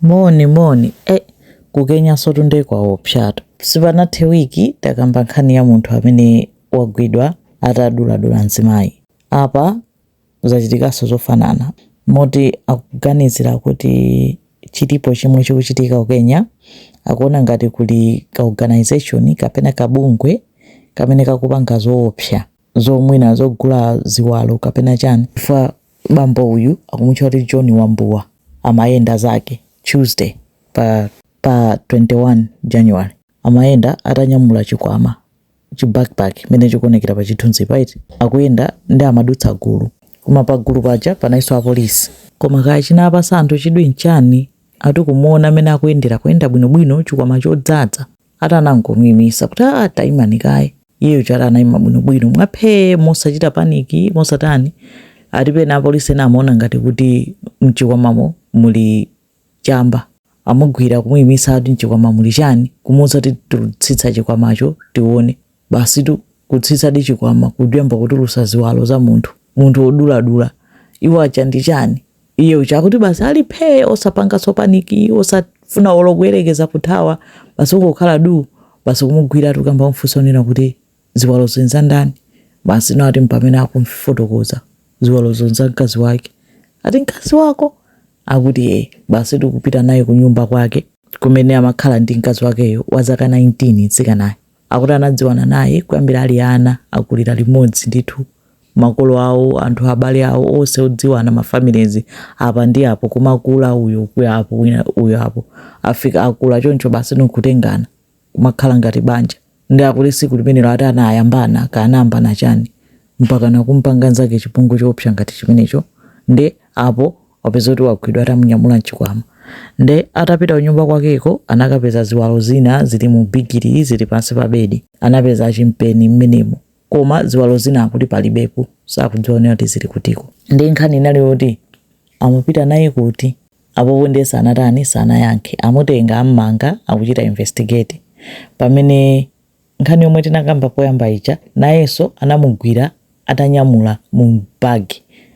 Moni moni eh ku Kenyasotu nde kwaopsatu. Sipanathe week takamba nkhani ya munthu amene wagwidwa ataduladula mzimayi. Apa zachitikaso zofanana moti akuganizira kuti chilipo chimwe chikuchitika ku Kenya akuona ngati kuli ka organization kapena kabungwe kamene kakupanga zoopsa. zo mwina zogula ziwalo kapena chani chifukwa bambo uyu akumutcha kuti john wambua amayenda zake tuesday pa, pa 21 january amayenda atanyamula chikwama chi backpack mene chikuonekera pa chithunzi paiti akuyenda nde amadutsa gulu koma pa gulu paja panaliso apolisi koma kaya chinapasa anthu chidwi nchani ati kumuona mmene akuyendera kuyenda bwinobwino chikwama chodzadza atanangomuyimisa kuti aa taimani kaye Iye uja ati anayima bwinobwino mwaphee mosachita paniki mosatani ati pena apolisi ena amaona ngati kuti mchikwamamo muli chamba amugwira kumuyimitsa ati mchikwama muli chani kumuuza kuti tsitsa chikwamacho tione basitu kutsitsadi chikwama kuyamba kutulutsa ziwalo za munthu munthu woduladula iwo aja ndi chani Iye uja akuti basi ali phee osapanganso paniki osafuna olo kuyerekeza kuthawa basi kungokhala duu basi kumugwiratu kuyamba kumfunsa kunena kuti ziwalozo nzandani basi no ati mpamene akumfotokoza ziwalozo nza mkazi wake ati mkazi wako akuti ee basi ndikupita naye kunyumba kwake kumene amakhala ndi mkazi wakeyo wa zaka 19 mtsikanayo Akuti anadziwana naye kuyambira ali ana, akulira limodzi ndithu makolo awo anthu abale awo onse odziwana ma families apa ndi apo kumakula uyo kuya apo wina uyo apo afika akula choncho basi no kutengana kumakhala ngati banja nde akuti siku limenelo ati anayambana kaya anayambana chani mpaka nakumpanga nzake chipongwe choopsa ngati chimenecho nde apa wapeza kuti wagwidwa atamunyamula mchikwama nde atapita kunyumba kwakeko anakapeza ziwalo zina zili mu bigiri zili pansi pa bedi anapeza chimpeni mmenemo koma ziwalo zina akuti palibepo sakuziona kuti zili kutiko nde nkhani inali yoti amupita naye kuti apopo ndiye sanatani sanayankhe amutenga ammanga akuchita investigate pamene nkhani yomwe tinakamba poyamba ija nayenso anamugwira atanyamula mu bag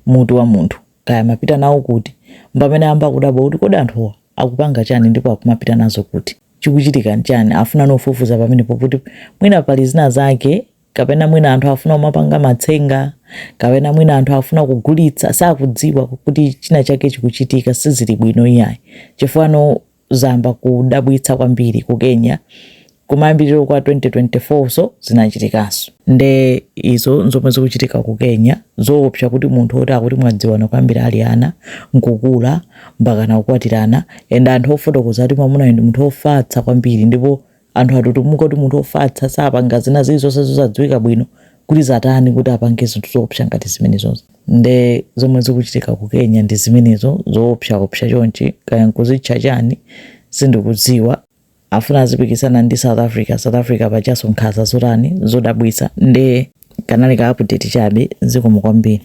mutu wa munthu kaya amapita nawo kuti mpamene ayamba kudabwa kuti kodi anthuwa akupanga chani ndipo akumapita nazo kuti chikuchitika nchani afuna kufufuza pamenepo kuti mwina pali zina zake kapena mwina anthu afuna kumapanga matsenga kapena mwina anthu afuna kugulitsa sakudziwa kuti china chake chikuchitika sizili bwino iyayi chifukwa no Zayamba kudabwitsa kwambiri ku Kenya. Kumayambiliro kwa 2024 so zinachitikanso. Nde izo nzomwe zikuchitika ku Kenya. Zoopsa kuti munthu oti akuti anadziwana kuyambira ali ana, nkukula, mpakana kukwatirana, and anthu akufotokoza kuti mwamunayo ndi munthu ofatsa kwambiri ndipo Anthu atutumuka kuti munthu ofatsa sapanga zina zilizonse zosadziwika bwino kuti zatani kuti apange zinthu zoopsa ngati zimenezozi. Nde zomwe zikuchitika ku Kenya ndi zimenezo zoopsaopsa chonchi kaya nkuzitcha chani sindikudziwa. Afuna azipikisana ndi South Africa, South Africa pajanso nkhaza zotani zodabwitsa nde kanali ka update chabe zikomo kwambiri.